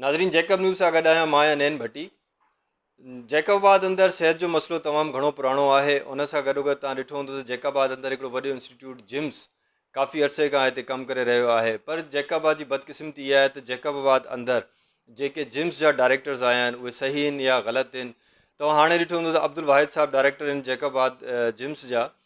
ناظرين Jacob news سان گڏ آهيان مان آهيان نين ڀٽي جيڪب آباد اندر صحت جو مسئلو تمام گھڻو پراڻو آهي ان سان گڏو گڏ تان ڏٺو هوندو ته جيڪب آباد اندر هڪڙو وڏو انسٽيٽيوٽ جمس ڪافي عرصي کان هتي ڪم ڪري رهيو آهي پر جيڪب آباد جي بدقسمتي اها آهي ته جيڪب آباد اندر جيڪي جمس جا ڊائريڪٽرز آيا آهن اهي صحيح آهن يا غلط آهن تو هاڻي ڏٺو هوندو ته عبدالواحد صاحب ڊائريڪٽر آهن جيڪب آباد جمس جا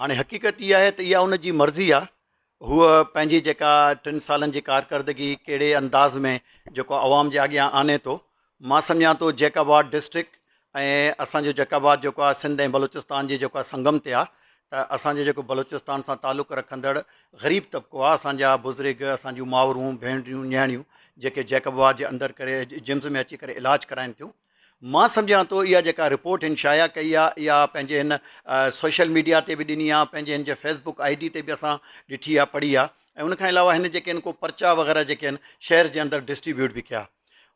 هاڻي حقيقت هيء آهي ته اها ان جي مرضي آهي، هوء پنهنجي جيڪا ٽن سالن جي ڪارڪردگي ڪهڙي انداز ۾ جيڪو عوام جي آڳيان آڻي ٿو. مان سمجهان ٿو جيڪب آباد ڊسٽرڪٽ ۽ اسان جو جيڪب آباد جيڪو آهي سنڌ ۽ بلوچستان جي جيڪو آهي سنگم تي آهي ته اسان جو جيڪو بلوچستان سان تعلق رکندڙ غريب طبقو آهي اسان جا بزرگ اسان جون مائورون ڀينريون نياڻيون جيڪي جيڪب آباد جي اندر ڪري جمز ۾ اچي ڪري علاج ڪرائين ٿيون. مان سمجهان ٿو اها جيڪا رپورٽ هن شايع ڪئي آهي اها پنهنجي هن سوشل ميڊيا تي به ڏني آهي پنهنجي هن جي فيس بڪ آئي ڊي تي به اسان ڏٺي آهي پڙهي آهي ۽ ان کان علاوه هن جيڪي آهن ڪو پرچا وغيره جيڪي آهن شهر جي اندر ڊسٽريبيوٽ به ڪيا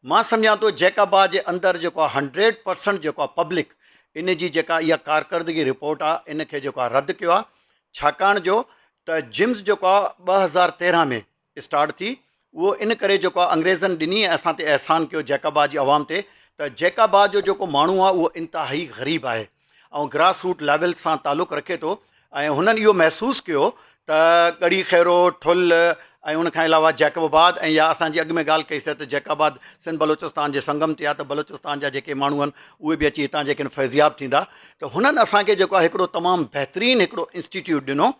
مان سمجهان ٿو جيڪابا جي اندر جيڪو آهي هنڊريڊ پرسنٽ جيڪو آهي پبلڪ ان جي جيڪا اها ڪارڪردگي رپورٽ آهي ان کي جيڪو آهي رد ڪيو آهي ڇاڪاڻ جو ته جمز جيڪو آهي ٻه هزار تيرهن ۾ اسٽارٽ ٿي اهو ان ڪري جيڪو آ انگريزن ڏني ۽ اسان تي احسان ڪيو جيڪابا جي عوام تي ته جيڪابا جو جيڪو ماڻهو آ اهو انتهائي غريب آهي ۽ گراس روٽ ليول سان تعلق رکي ٿو ۽ هنن اهو محسوس ڪيو ته ڳڙهي خيرو ٺل ۽ ان کان علاوه جيڪب آباد ۽ يا اسان جي اڳ ۾ ڳالهه ڪئي سي ته جيڪب آباد سنڌ بلوچستان جي سنگم تي آ ته بلوچستان جا جيڪي ماڻهو آهن اهي به اچي هتان جيڪن فيضياب ٿيندا ته هنن اسان کي جيڪو آ هڪڙو تمام بهترين هڪڙو انسٽيٽيوٽ ڏنو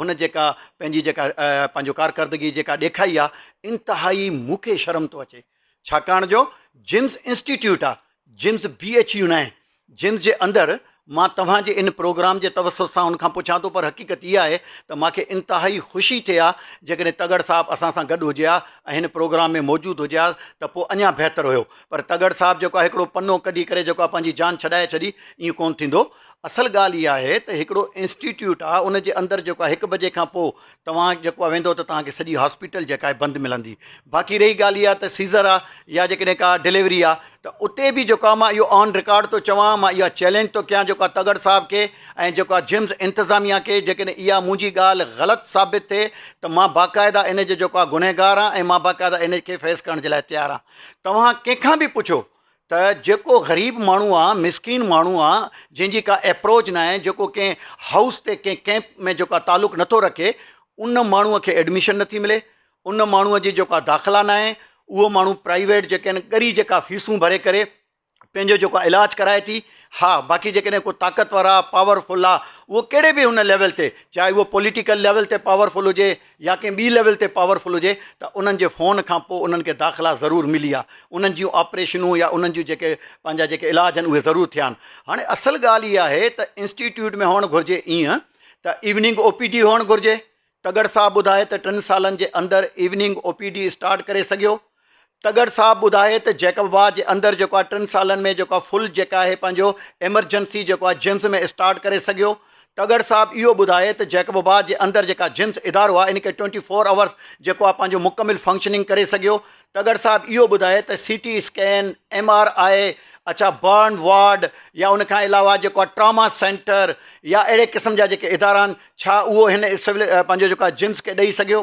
هن جيڪا پنهنجي جيڪا پنهنجو ڪارڪردگي جيڪا ڏيکائي آ انتهائي مون کي شرم ٿو اچي ڇاڪاڻ جو جيمز انسٽيٽيوٽ آ جيمز بي ايڇ يو ناهي جيمز جي اندر مان توهان جي ان پروگرام جي توسط سان ان کان پڇان ٿو پر حقيقت اها آهي ته مان کي انتهائي خوشي ٿئي ها جيڪڏهن تگڙ صاحب اسان سان گڏ هجي ها ۽ هن پروگرام ۾ موجود هجي ها ته پوء اڃا بهتر هيو پر تگڙ صاحب جيڪو آهي هڪڙو پنو ڪڍي ڪري جيڪو آهي پنهنجي جان ڇڏائي ڇڏي ائين ڪونه ٿيندو اصل ڳالهه اها آهي ته هڪڙو انسٽيٽيوٽ آهي ان جي اندر جيڪو آهي هڪ بجي کان پوء توهان جيڪو آهي ويندو ته توهان کي سڄي هاسپيٽل جيڪا آهي بند ملندي باقي رهي ڳالهه اها ته سيزر آهي يا جيڪڏهن ڪا ڊليوري آهي ته اتي به جيڪو آهي مان اهو آن رڪارڊ ٿو چوان مان اها چئلينج ٿو ڪيان جيڪو آهي تڳڙ صاحب کي ۽ جيڪو آهي جمز انتظاميا کي جيڪڏهن اها منهنجي ڳالهه غلط ثابت ٿئي ته مان باقاعده ان جو جيڪو آهي گنهگار آهيان ۽ مان باقاعده ان کي فيس ڪرڻ جي لاء تيار آهيان توهان ڪنهن کان به پڇو ته جيڪو غريب ماڻهو آ مسڪين ماڻهو آ جنهن جي ڪا اپروچ ناهي جيڪو ڪنهن هائوس تي ڪنهن ڪئمپ ۾ جيڪا تعلق نٿو رکي ان ماڻهو کي ايڊميشن نٿي ملي ان ماڻهو جي جيڪا داخلا ناهي اهو ماڻهو پرائيويٽ جيڪي آهن ڳري جيڪا فيسون ڀري ڪري پنهنجو جيڪو آ علاج ڪرائي ٿي ها باقي جيڪڏهن ڪو طاقتور آ پاورفل آ اهو ڪهڙي به هن ليول تي چاهي اهو پوليٽيڪل ليول تي پاورفل هجي يا ڪنهن ٻي ليول تي پاور فل هجي ته انهن جي فون کان پوء انهن کي داخلا ضرور ملي آ انهن جون آپريشنون يا انهن جون جيڪي پنهنجا جيڪي علاج آهن اهي ضرور ٿيا آهن هاڻي اصل ڳالهه اها آهي ته انسٽيٽيوٽ ۾ هئڻ گهرجي ايئن ته ايوننگ او پي ڊي هئڻ گهرجي تڳڙ صاحب ٻڌائي ته ٽن سالن جي اندر evening O P D start ڪري سگهيو تڳڙ صاحب ٻڌائي ته جيڪب واهه جي اندر جيڪو آهي ٽن سالن ۾ جيڪو آهي فل جيڪا آهي پنهنجو ايمرجنسي جيڪو آهي جمز ۾ اسٽارٽ ڪري سگهيو تڳڙ صاحب اهو ٻڌائي ته جيڪب واهه جي اندر جيڪا جمز ادارو آهي ان کي ٽوئنٽي فور آورس جيڪو آهي پنهنجو مڪمل فنڪشننگ ڪري سگهيو تڳڙ صاحب اهو ٻڌائي ته C T scan M R I اڇا برن وارڊ يا ان کان علاوه جيڪو آهي ٽراما سينٽر يا اهڙي قسم جا جيڪي ادارا آهن ڇا اهو هن سول پنهنجو جيڪو آهي جمز کي ڏئي سگهيو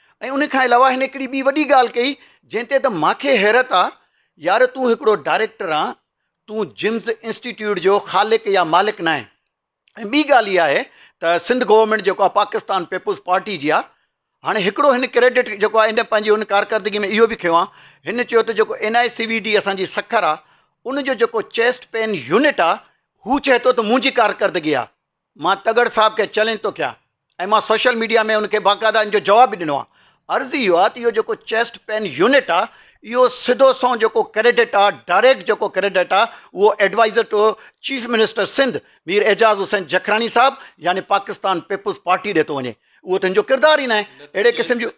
۽ ان کان علاوه هن هڪڙي ٻي وڏي ڳالهه ڪئي جنهن تي ته مان کي حيرت آ يار تون هڪڙو ڊائريڪٽر آن تون جمز انسٽيٽيوٽ جو خالق يا مالڪ ناهين ۽ ٻي ڳالهه اها آهي ته سنڌ گورنمينٽ جيڪو آ پاڪستان پيپلز پارٽي جي آ هاڻي هڪڙو هن ڪريڊٽ جيڪو آ ان پنهنجي هن ڪارڪردگي ۾ اهو به کنيو آ هن چيو ته جيڪو N I C V D اسان جي سکر آ ان جو جيڪو چيسٽ پين يونٽ آ هو چئي ٿو ته منهنجي ڪارڪردگي آ مان تڳڙ صاحب کي چئلينج ٿو ڪيان ۽ مان سوشل ميڊيا ۾ ان کي باقاعده ان جو جواب به ڏنو آهي. عرض اهو آهي ته اهو جيڪو چيسٽ پين يونٽ آهي اهو سڌو سنئون جيڪو ڪريڊٽ آهي ڊائريڪٽ جيڪو ڪريڊٽ آهي اهو adviser to chief minister Sindh Mir Ijaz Hussain Jakhrani صاحب يعني پاڪستان پيپلز پارٽي ڏي ٿو وڃي اهو ته ان جو ڪردار ئي ناهي اهڙي قسم جون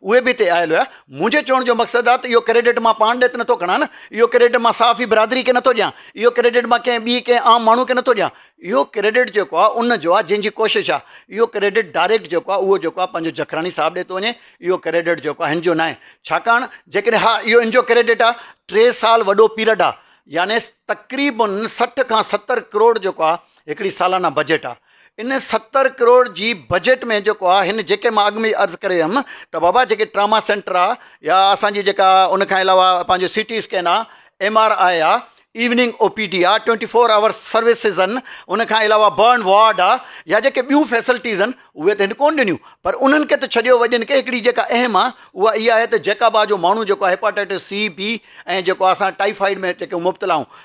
اهي به هتي آيل هيا. منهنجي چوڻ جو مقصد آ ته اهو ڪريڊٽ مان پاڻ ڏي ته نٿو کڻان نه، اهو ڪريڊٽ مان صحافي برادري کي نٿو ڏيان، اهو ڪريڊٽ مان ڪنهن ٻي ڪنهن عام ماڻهو کي نٿو ڏيان. اهو ڪريڊٽ جيڪو آ ان جو آ جنهن جي ڪوشش آ. اهو ڪريڊٽ ڊائريڪٽ جيڪو آ اهو جيڪو آ پنهنجو جکراڻي صاحب ڏي ٿو وڃي. اهو ڪريڊٽ جيڪو آ هن جو ناهي. ڇاڪاڻ جيڪڏهن ها اهو هن جو ڪريڊٽ آ. ٽي سال وڏو پيرڊ آ. يعني تقريبن سٺ کان ستر ڪروڙ جيڪو آ هڪڙي سالانه بجيٽ آ. ان ستر ڪروڙ جي بجيٽ ۾ جيڪو آ هن جيڪي مان اڳ ۾ ئي عرض ڪري ويم ته بابا جيڪي ٽراما سينٽر آ يا اسان جي جيڪا ان کان علاوه پنهنجو سي ٽي اسڪين آ ايم آر آء آ ايوننگ او پي ڊي آ ٽوئنٽي فور آور سروسز ان ان کان علاوه برن وارڊ آ يا جيڪي ٻيون فيسلٽيز ان اهي ته هن ڪون ڏنيون پر انهن کي ته ڇڏيو وڏين کي هڪڙي جيڪا اهم آ اها اها آهي ته جيڪابا جو ماڻهو جيڪو آ هيپاٽائٽس سي بي ۽ جيڪو آ اسان ٽائيفائيڊ ۾ جيڪو مبتلا آهون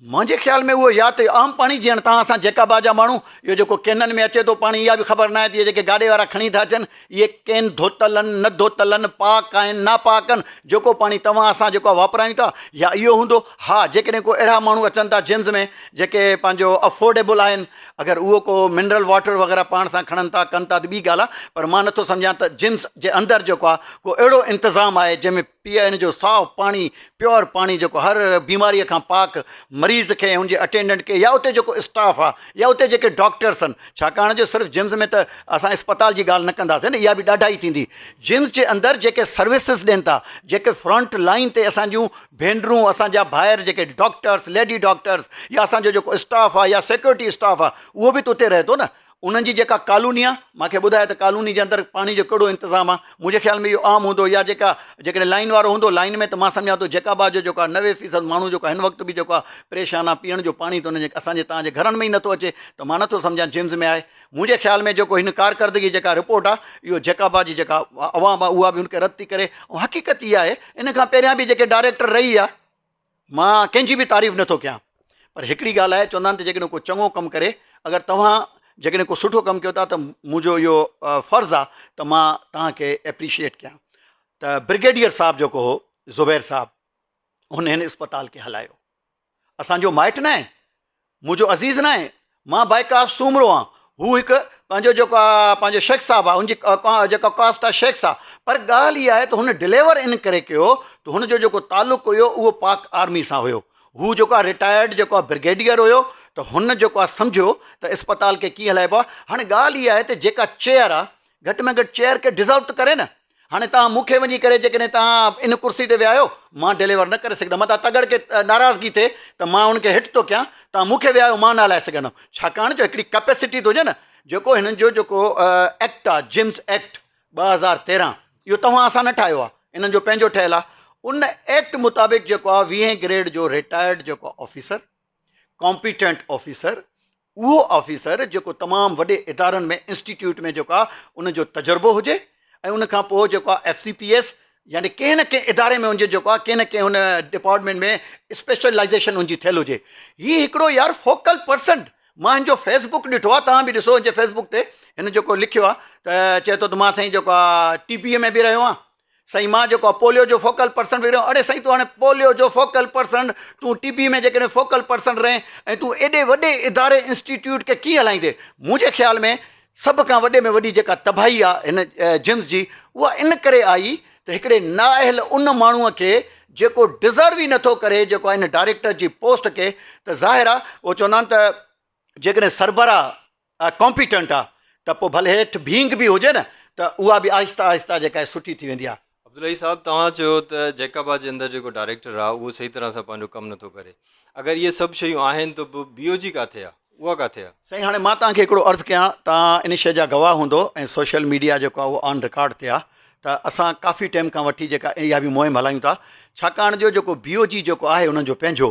منهنجي خيال ۾ اهو يا ته عام پاڻي جيان تان اسان جيڪابا جا ماڻهو اهو جيڪو ڪينن ۾ اچي ٿو پاڻي اها به خبر ناهي ته اهي جيڪي گاڏي وارا کڻي ٿا اچن اهي ڪين ڌوتل آهن نه ڌوتل آهن پاڪ آهن ناپاڪ آهن جيڪو پاڻي توهان اسان جيڪو آهي واپرايون ٿا يا اهو هوندو ها جيڪڏهن ڪو اهڙا ماڻهو اچن ٿا جنس ۾ جيڪي پنهنجو افورڊيبل آهن اگر اهو ڪو منرل واٽر وغيره پاڻ سان کڻن ٿا ڪن ٿا ته ٻي ڳالهه آهي پر مان نٿو سمجهان ته جنس جي اندر جيڪو آهي ڪو اهڙو انتظام آهي جنهن ۾ پيئي ان جو صاف پاڻي، Pure، پاڻي جيڪو هر بيماريء کان پاڪ مريض کي ۽ ان جي اٽينڊنٽ کي يا اتي جيڪو اسٽاف آ يا اتي جيڪي ڊاڪٽرس ان ڇاڪاڻ جو صرف جمز ۾ ته اسان اسپتال جي ڳالهه نه ڪنداسين نه اها به ڏاڍائي ٿيندي جمز جي اندر جيڪي سروسز ڏين ٿا جيڪي فرنٽ لائين تي اسان جون ڀينرون اسان جا ڀائر جيڪي ڊاڪٽرس ليڊي ڊاڪٽرس يا اسان جو جيڪو اسٽاف آ يا سيڪيورٽي اسٽاف آ اهو به ته اتي رهي ٿو نه انهن جي جيڪا ڪالوني آ مان کي ٻڌايو ته ڪالوني جي اندر پاڻي جو ڪهڙو انتظام آ منهنجي خيال ۾ اهو عام هوندو يا جيڪا جيڪڏهن لائين وارو هوندو لائين ۾ ته مان سمجهان ٿو جيڪاب جو جيڪو آ نوي فيصد ماڻهو جيڪو آ هن وقت به جيڪو آ پريشان آ پيئڻ جو پاڻي ته انهن جي اسان جي توهان جي گهرن ۾ ئي نٿو اچي ته مان نٿو سمجهان جيمز ۾ آهي منهنجي خيال ۾ جيڪو هن ڪارڪردگي جيڪا رپورٽ آ اهو جيڪاب جي جيڪا عوام آ اها به ان کي رد ٿي ڪري ۽ حقيقت هي آهي ان کان پهريان به جيڪي ڊائريڪٽر رهي آ مان ڪنهن جي به تعريف نه ٿو ڪيان پر هڪڙي ڳالهه آهي چوندا آهن ته جيڪڏهن ڪو چڱو ڪم ڪري اگر توهان جيڪڏهن ڪو سٺو ڪم ڪيو ٿا ته منهنجو اهو فرض آهي ته مان توهان کي ايپريشيئيٽ ڪيان ته برگيڊيئر صاحب جيڪو هو زبير صاحب هن هن اسپتال کي هلايو اسانجو مائٽ ناهي مون جو عزيز ناهي، مان بائڪا سومرو آهان. هو هڪ پنهنجو جيڪو آ پنهنجو شيخ صاحب آ ان جي جيڪا ڪاسٽ آ شيخ صاحب پر ڳالهه اها آهي ته هن ڊليور ان ڪري ڪيو ته هن جو جيڪو تعلق هيو اهو پاڪ آرمي سان هيو هو جيڪو آ رٽائرڊ جيڪو آ برگيڊيئر هيو ته هن جيڪو آ سمجهيو ته اسپتال کي ڪيئن هلائبو آ هاڻي ڳالهه اها آهي ته جيڪا چيئر آ گهٽ ۾ گهٽ چيئر کي ڊزرو ته ڪري نه هاڻي توهان مون کي وڃي ڪري جيڪڏهن توهان ان ڪرسي تي ويهايو مان ڊليور نه ڪري سگهندم متان تگڙ کي ناراضگي ٿئي ته مان ان کي هٽ ٿو ڪيان توهان مون کي ويهايو مان نه هلائي سگهندم ڇاڪاڻ جو هڪڙي ڪپيسٽي ٿو هجي نه جيڪو هنن جو جيڪو ايڪٽ آهي جمس ايڪٽ ٻه هزار تيرهن اهو توهان اسان نه ٺاهيو آهي انهن جو پنهنجو ٺهيل آهي ان ایکٽ مطابق جيڪو آهي ويهين گريڊ جو ريٽائرڊ جيڪو آفيسر ڪامپيٽنٽ آفيسر اهو آفيسر جيڪو تمام وڏي ادارن ۾ انسٽيٽيوٽ ۾ جيڪو آهي ان جو تجربو هجي ۽ ان کان پوء جيڪو آهي ايف سي پي ايس يعني ڪنهن نه ڪنهن اداري ۾ ان جي جيڪو آهي ڪنهن نه ڪنهن هن ڊپارٽمينٽ ۾ اسپيشلائزيشن ان جي ٿيل هجي هي هڪڙو يار فوڪل پرسن مان هن جو فيس بڪ ڏٺو آهي توهان به ڏسو هن جي فيس بڪ تي هن جيڪو لکيو آهي ته چئي ٿو ته مان سائين جيڪو آهي ٽي پي اي ۾ به رهيو آهيان سائين مان جيڪو آ پوليو جو فوڪل پرسن ويريو اڙي سائين تون هاڻي پوليو جو فوڪل پرسن تون ٽي بي ۾ جيڪڏهن فوڪل پرسن رهين ۽ تون ايڏي وڏي اداري انسٽيٽيوٽ کي ڪيئن هلائيندي منهنجي خيال ۾ سڀ کان وڏي ۾ وڏي جيڪا تباهي آ هن جمز جي اها ان ڪري آئي ته هڪڙي نااهل ان ماڻهو کي جيڪو ڊزرو ئي نٿو ڪري جيڪو آ هن ڊائريڪٽر جي پوسٽ کي ته ظاهر آ اهو چوندا آهن ته جيڪڏهن سربراهه ڪامپيٽنٽ آ ته پو ڀلي هيٺ ڀينگ به هجي نه ته اها به آهستي آهستي جيڪا آهي سٺي ٿي ويندي آ. عبدالحئي صاحب توهان چيو ته جيڪابا جي اندر جيڪو ڊائريڪٽر آ اهو صحيح طرح سان پنهنجو ڪم نٿو ڪري اگر اهي سڀ شيون آهن ته پو بي او جي ڪاٿي آ اها ڪاٿي آ؟ سائين هاڻي مان توهان کي هڪڙو عرض ڪيان توهان ان شئي جا گواهه هوندو ۽ سوشل ميڊيا جيڪو آ اهو آن رڪارڊ تي آ ته اسان ڪافي ٽيم کان وٺي جيڪا اها به مهم هلايون ٿا ڇاڪاڻ جو جيڪو بي او جي جيڪو آهي انهن جو پنهنجو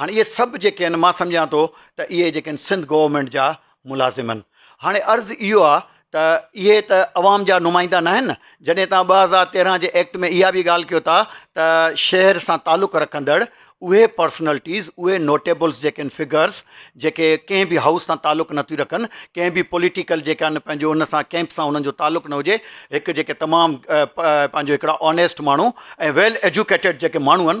هاڻي اهي سڀ جيڪي آهن مان سمجهان ٿو ته اهي جيڪي آهن سنڌ گورنمينٽ جا ملازم آهن هاڻي عرض اهو آهي ته اهي ته عوام جا نمائندا نه آهن جڏهن تان ٻه هزار تيرهن جي ايڪٽ ۾ اها به ڳالهه ڪيو ٿا ته شهر سان تعلق رکندڙ اهي پرسنلٽيز اهي نوٽيبلس جيڪي آهن فگرس جيڪي ڪنهن به هائوس سان تعلق نٿيون رکن ڪنهن به پوليٽيڪل جيڪا آهن پنهنجو ان سان ڪيمپ سان انهن جو تعلق نه هجي هڪ جيڪي تمام پنهنجو هڪڙا آنيسٽ ماڻهو ۽ ويل ايجوڪيٽيڊ جيڪي ماڻهو آهن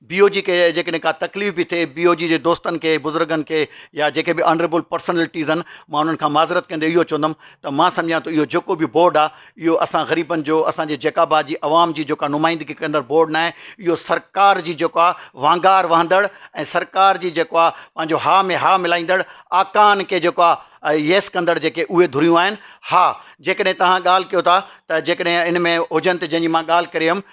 بي او جي کي جيڪڏهن ڪا تڪليف به ٿئي بي او جي جي دوستن کي بزرگن کي يا جيڪي به آنريبل پرسنلٽيز آهن مان انهن کان معذرت ڪندي اهو چوندم ته مان سمجهان ٿو اهو جيڪو به بورڊ آهي اهو اسان غريبن جو اسان جي جيڪابا جي عوام جي جيڪا نمائندگي ڪندڙ بورڊ ناهي اهو سرڪار جي جيڪو آهي وانگار وهندڙ ۽ سرڪار جي جيڪو آهي پنهنجو ها ۾ ها ملائيندڙ آقائن کي جيڪو آهي ييس ڪندڙ جيڪي اهي ڌريون آهن ها جيڪڏهن توهان ڳالهه ڪيو ٿا ته جيڪڏهن ان ۾ هجن ته جنهن جي مان ڳالهه ڪري هيم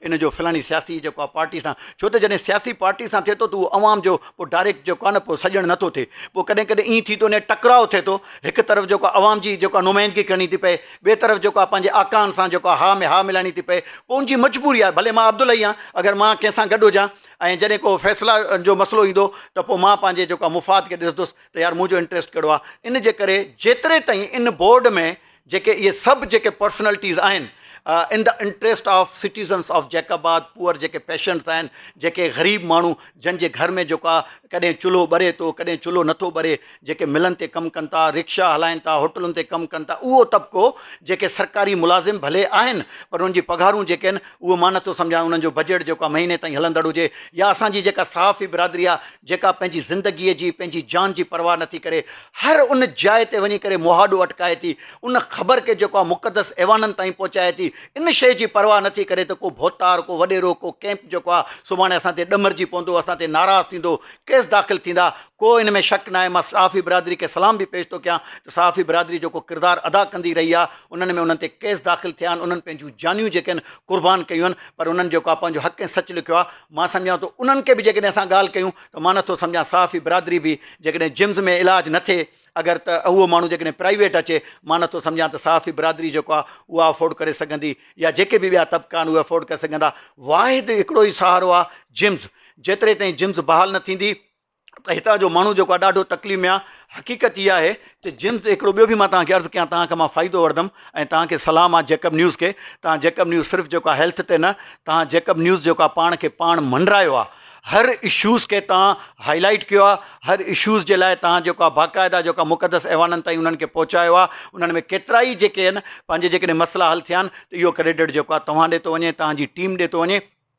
ان جو فلاڻي سياسي جيڪو آ پارٽي سان ڇو ته جڏهن سياسي پارٽي سان ٿئي ٿو ته اهو عوام جو پوء ڊائريڪٽ جيڪو آ نه پوء سڄڻ نٿو ٿئي پوء ڪڏهن ڪڏهن ائين ٿي ٿو وڃي ٽڪراء ٿئي ٿو هڪ طرف جيڪو آ عوام جي جيڪو آ نمائندگي ڪرڻي ٿي پئي ٻئي طرف جيڪو آ پنهنجي آقائن سان جيڪو آ ها ۾ ها ملائڻي ٿي پئي پوء ان جي مجبوري آهي ڀلي مان عبدالحئي آهيان اگر مان ڪنهن سان گڏ هجان ۽ جڏهن ڪو فيصلا جو مسئلو ايندو ته پوء مان پنهنجي جيڪو آ مفاد کي ڏسندس ته يار منهنجو انٽريسٽ ڪهڙو آ ان جي ڪري جيتري تائين ان بورڊ ۾ جيڪي اهي سڀ جيڪي پرسنلٽيز آهن in the interest of citizens of Jacobabad poor جيڪي پيشنٽس آهن جيڪي غريب ماڻهو جن جي گهر ۾ جيڪو آهي ڪڏهن چلهو ٻري ٿو ڪڏهن چلهو نٿو ٻري جيڪي ملن تي ڪم ڪن ٿا رڪشا هلائين ٿا هوٽلن تي ڪم ڪن ٿا اهو طبقو جيڪي سرڪاري ملازم ڀلي آهن پر انهن جي پگهارون جيڪي آهن اهو مان نٿو سمجهان انهن جو بجيٽ جيڪو آهي مهيني تائين هلندڙ هجي يا اسان جي جيڪا صحافي برادري آهي جيڪا پنهنجي زندگيء جي، پنهنجي جان جي پرواهه نه ٿي ڪري، هر ان جاء تي وڃي ڪري مهاڏو اٽڪائي ٿي، ان خبر کي جيڪا مقدس ايوانن تائين پهچائي ٿي، ان شيء جي پرواهه نه ٿي ڪري ته ڪو ڀوتار، ڪو وڏيرو، ڪو ڪئمپ جيڪو آهي، سڀاڻي اسان تي ڏمرجي پوندو، اسان تي ناراض ٿيندو، ڪيس داخل ٿيندا، ڪو ان ۾ شڪ ناهي. مان صحافي برادري کي سلام به پيش ٿو ڪيان ته صحافي برادري جيڪو ڪردار ادا ڪندي رهي آهي، انهن ۾ انهن تي ڪيس داخل ٿيا آهن، انهن پنهنجون جانيون جيڪي آهن قربان ڪيون آهن، پر انهن جيڪو آهي پنهنجو حق ۽ سچ لکيو آهي، مان سمجهان ٿو انهن کي به جيڪڏهن اسان ڳالهه ڪيون ته مان نٿو سمجهان صحافي برادري به جيڪڏهن جمز ۾ علاج نه ٿئي اگر ته اهو ماڻهو جيڪڏهن پرائيويٽ اچي مان نٿو سمجهان ته صحافي برادري جيڪو آهي اها افورڊ ڪري سگهندي يا جيڪي به ٻيا طبقا آهن اهي افورڊ ڪري سگهندا واحد هڪڙو ئي سهارو آهي جمز جيتري تائين جمز بحال نه ٿيندي ته هتان جو ماڻهو جيڪو آهي ڏاڍو تڪليف ۾ آهي حقيقت اها آهي ته جيمز هڪڙو ٻيو به مان توهان کي عرض ڪيان توهان کي مان فائدو وٺندم ۽ توهان کي صلاح مان جيڪب نيوز کي توهان جيڪب نيوز صرف جيڪو آهي هيلٿ تي نه توهان جيڪب نيوز جيڪو آهي پاڻ کي پاڻ منڊرايو آهي هر اشوز کي توهان هاء لائيٽ ڪيو آهي هر اشوز جي لاء توهان جيڪو آهي باقاعده جيڪو آهي مقدس ايوانن تائين انهن کي پهچايو آهي انهن ۾ ڪيترا ئي جيڪي آهن پنهنجي جيڪڏهن مسئلا حل ٿيا آهن ته اهو ڪريڊٽ جيڪو آهي توهان ڏي ٿو وڃي توهان جي ٽيم ڏي ٿو وڃي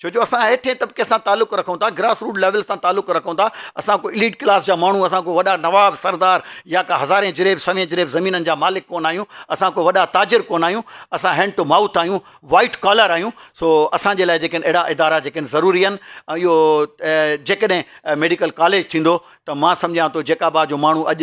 ڇو جو اسان هيٺين طبقي سان تعلق رکون ٿا گراس روٽ ليول سان تعلق رکون ٿا اسان ڪو اليٽ ڪلاس جا ماڻهو اسان ڪو وڏا نواب سردار يا ڪا هزارين جريب سوين جريب زمينن جا مالڪ ڪونه آهيون اسان ڪو وڏا تاجر ڪونه آهيون اسان هينڊ ٽو مائوٿ آهيون وائيٽ ڪالر آهيون سو اسان جي لاء جيڪي اهڙا ادارا جيڪي ضروري آهن ۽ اهو جيڪڏهن ميڊيڪل ڪاليج ٿيندو ته مان سمجهان ٿو جيڪابا جو ماڻهو اڄ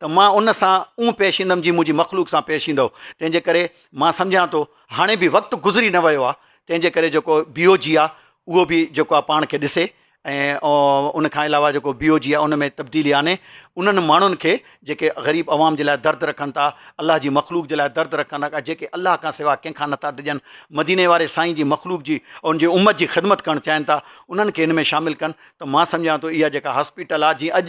ته مان ان سان اونهه پيش ايندم جيئن منهنجي مخلوق سان پيش ايندؤ. تنهن جي ڪري مان سمجهان ٿو هاڻي به وقت گذري نه ويو آهي، تنهن جي ڪري جيڪو بي او جي آهي اهو به جيڪو آهي پاڻ کي ڏسي ۽ ان کان علاوه جيڪو بي او جي آهي ان ۾ تبديلي آڻي انهن ماڻهن کي جيڪي غريب عوام جي لاء درد رکن ٿا، الله جي مخلوق جي لاء درد رکن ٿا جيڪي الله کان سواء ڪنهن کان نٿا ڊڄن، مديني واري سائين جي مخلوق جي ان جي امت جي خدمت ڪرڻ چاهين ٿا انهن کي ان ۾ شامل ڪن ته مان سمجهان ٿو اها جيڪا هاسپيٽل آهي جيئن اڄ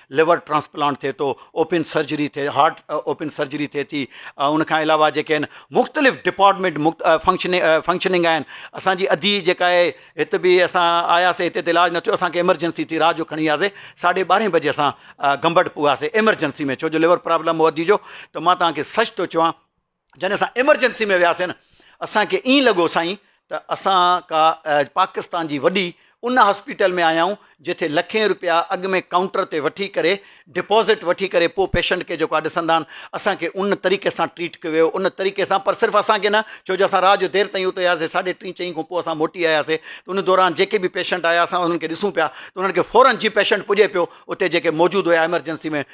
لور ٽرانسپلانٽ ٿئي ٿو، اوپن سرجري ٿئي هارٽ اوپن سرجري ٿئي ٿي، ان کان علاوه جيڪي آهن مختلف ڊپارٽمينٽ فنڪشننگ فنڪشننگ آهن، اسان جي ادي جيڪا آهي هت به اسان آياسي هتي ته علاج نه ٿيو اسان کي ايمرجنسي ٿي رات جو کڻي وياسي ساڍي ٻارهين بجي اسان گمبٽ پوياسي ايمرجنسي ۾ ڇو جو لور پرابلم هو ادي جو ته مان توهان کي سچ ٿو چوان جڏهن اسان ايمرجنسي ۾ وياسين نه اسان کي ائين لڳو سائين ته اسان ڪا پاڪستان جي وڏي ان هاسپيٽل ۾ آيا آهيون جتي لکين روپيا اڳ ۾ ڪائونٽر تي وٺي ڪري ڊپوزٽ وٺي ڪري پوء پيشنٽ کي جيڪو آهي ڏسندا آهن اسان کي ان طريقي سان ٽريٽ ڪيو ويو ان طريقي سان پر صرف اسان کي نه ڇو جو اسان رات جو دير تائين اتي هياسي ساڍي ٽي چئين کان پوء اسان موٽي آياسي ته ان دوران جيڪي به پيشنٽ آيا اسان انهن کي ڏسون پيا ته انهن کي فورن جي پيشنٽ پڄي پيو اتي جيڪي موجود هيا ايمرجنسي ۾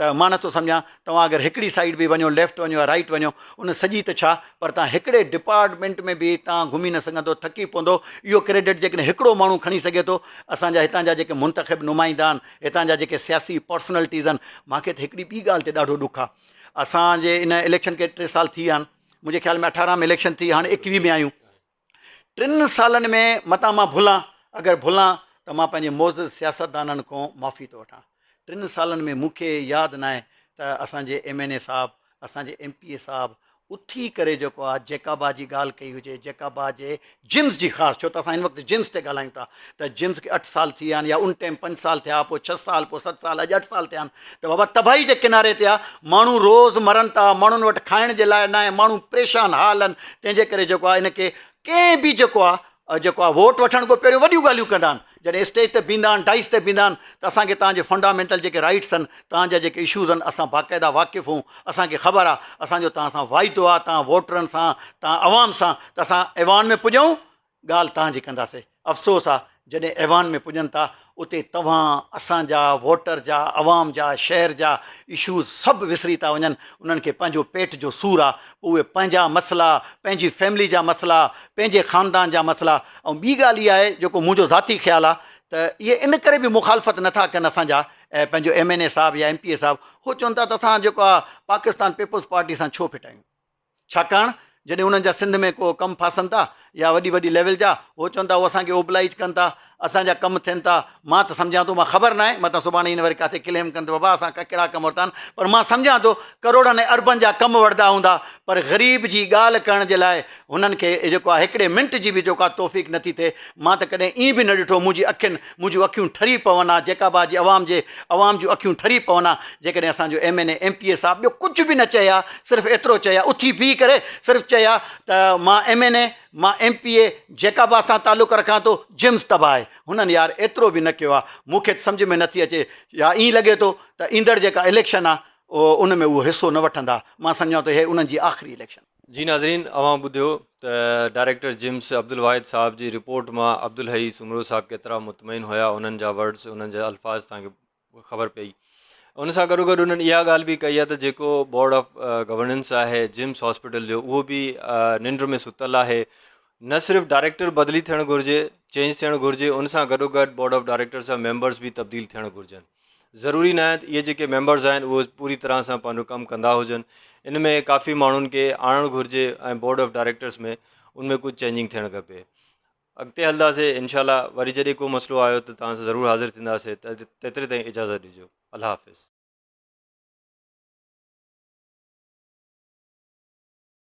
ته مان نٿو سمجهان توهان اگر هڪڙي سائيڊ به وڃو ليفٽ وڃو يا رائيٽ وڃو ان سڄي ته ڇا پر توهان هڪڙي ڊپارٽمينٽ ۾ به توهان گهمي نه سگهندو ٿڪي پوندو اهو ڪريڊٽ جيڪڏهن هڪڙو ماڻهو کڻي سگهي ٿو اسان جا هتان جا جيڪي منتخب نمائندا آهن هتان جا جيڪي سياسي پرسنالٽيز آهن مان کي ته هڪڙي ٻي ڳالهه تي ڏاڍو ڏک آهي اسان جي ان اليڪشن کي ٽي سال ٿي ويا آهن منهنجي خيال ۾ اٺارهن ۾ اليڪشن ٿي هاڻي ايڪويهه ۾ آهيون ٽن سالن ۾ متان مان ڀلان، اگر ڀلان ته مان پنهنجي معزز سياستدانن کان معافي ٿو وٺان. ٽن سالن ۾ مون کي ياد ناهي ته اسان جي ايم اين اي صاحب، اسان جي ايم پي اي صاحب اٿي ڪري جيڪو آ جيڪابا جي ڳالهه ڪئي هجي، جيڪابا جي جنس جي خاص، ڇو ته اسان هن وقت جنس تي ڳالهايون ٿا، ته جنس کي اٺ سال ٿي ويا آهن يا ان ٽيم پنج سال ٿيا پوء ڇهه سال پوء ست سال اڄ اٺ سال ٿيا آهن ته بابا تباهي جي ڪناري تي آ ماڻهو روز مرن ٿا ماڻهن وٽ کائڻ جي لاء ناهي ماڻهو پريشان حال آهن تنهن جي ڪري جيڪو آ ان کي ڪنهن به جيڪو آ جيڪو آ ووٽ وٺڻ کان پهريون وڏيون ڳالهيون ڪندا آهن جڏهن اسٽيج تي بيهندا آهن ڊائس تي بيهندا آهن ته اسان کي تهان جي فنڊامينٽل جيڪي رائيٽس آهن تهان جا جيڪي اشوز آهن اسان باقاعده واقف آهون اسان کي خبر آ اسان جو تهان سان واعدو آ تهان ووٽرن سان تهان عوام سان ته اسان ايوان ۾ پڄون ڳالهه توهان جي ڪنداسين. افسوس آ جڏهن ايوان ۾ پڄن ٿا اتي توهان اسان جا ووٽر جا عوام جا شهر جا اشوز سڀ وسري ٿا وڃن انهن کي پنهنجو پيٽ جو سور آ پوء اهي پنهنجا مسئلا پنهنجي فيملي جا مسئلا پنهنجي خاندان جا مسئلا ۽ ٻي ڳالهه اها آهي جيڪو منهنجو ذاتي خيال آ ته اهي ان ڪري به مخالفت نه ٿا ڪن اسان جا پنهنجو ايم اين اي صاحب يا ايم پي اي صاحب اهو چون ٿا ته اسان جيڪو آ پاڪستان پيپلز پارٽي سان ڇو ڦٽايون. ڇاڪاڻ جڏهن انهن جا سنڌ ۾ ڪو ڪم ڦاسن ٿا يا وڏي وڏي ليول جا هو چون ٿا هو اسان کي اوبلائج ڪن ٿا اسان جا ڪم ٿين ٿا مان ته سمجهان ٿو مان خبر ناهي متان سڀاڻي هن وري ڪاٿي ڪليم ڪن ته بابا اسان ڪا ڪهڙا ڪم ورتا آهن پر مان سمجهان ٿو ڪروڙن ۽ اربن جا ڪم وردا هوندا پر غريب جي ڳالهه ڪرڻ جي لاء هنن کي جيڪو آهي هڪڙي منٽ جي به جيڪو آهي توفيق نٿي ٿئي مان ته ڪڏهن ائين به نه ڏٺو منهنجي اکين مون جون اکيون ٺري پون ها جيڪب آباد جي عوام جي عوام جون اکيون ٺري پون ها جيڪڏهن اسان جو M N A M P A صاحب ٻيو ڪجهه به نه چئي ها صرف ايترو چئي ها اٿي بيهي ڪري صرف چئي ها ته مان ايم اين اي مان M P A Jacobabad سان تعلق رکان ٿو جيمز تباهه آهي هنن يار ايترو به نه ڪيو ها مون کي ته سمجهه ۾ نٿي اچي يا ائين لڳي ٿو ته ايندڙ جيڪا اليڪشن ها ان ۾ اهو حصو نه وٺندا مان سمجهان ٿو هي انهن جي آخري اليڪشن جي ناظرين اوهان ٻڌيو ته ڊائريڪٽر جيمس عبدالواحد صاحب جي رپورٽ مان عبدالحئي سومرو صاحب ڪيترا مطمئن هيا انهن جا ورڊس انهن جا الفاظ تان خبر پئي ان سان گڏو گڏ انهن اها ڳالهه به ڪئي آهي ته جيڪو بورڊ آف گورننس آهي جيمس هاسپيٽل جو اهو به ننڊ ۾ ستل آهي نه صرف ڊائريڪٽر بدلي ٿيڻ گهرجي چينج ٿيڻ گهرجي ان سان گڏو گڏ بورڊ آف ڊائريڪٽرس جا ميمبرس به تبديل ٿيڻ گهرجن ضروري ناهي ته اهي جيڪي ميمبرز آهن اهي پوري طرح سان پنهنجو ڪم ڪندا هجن ان ۾ ڪافي ماڻهن کي آڻڻ گهرجي ۽ بورڊ آف ڊائريڪٽرس ۾ ان ۾ ڪجهه چينجنگ ٿيڻ کپي اڳتي هلنداسي انشاء الله وري جڏهن ڪو مسئلو آيو ته توهان سان ضرور حاضر ٿينداسي تيتري تائين اجازت ڏجو الله حافظ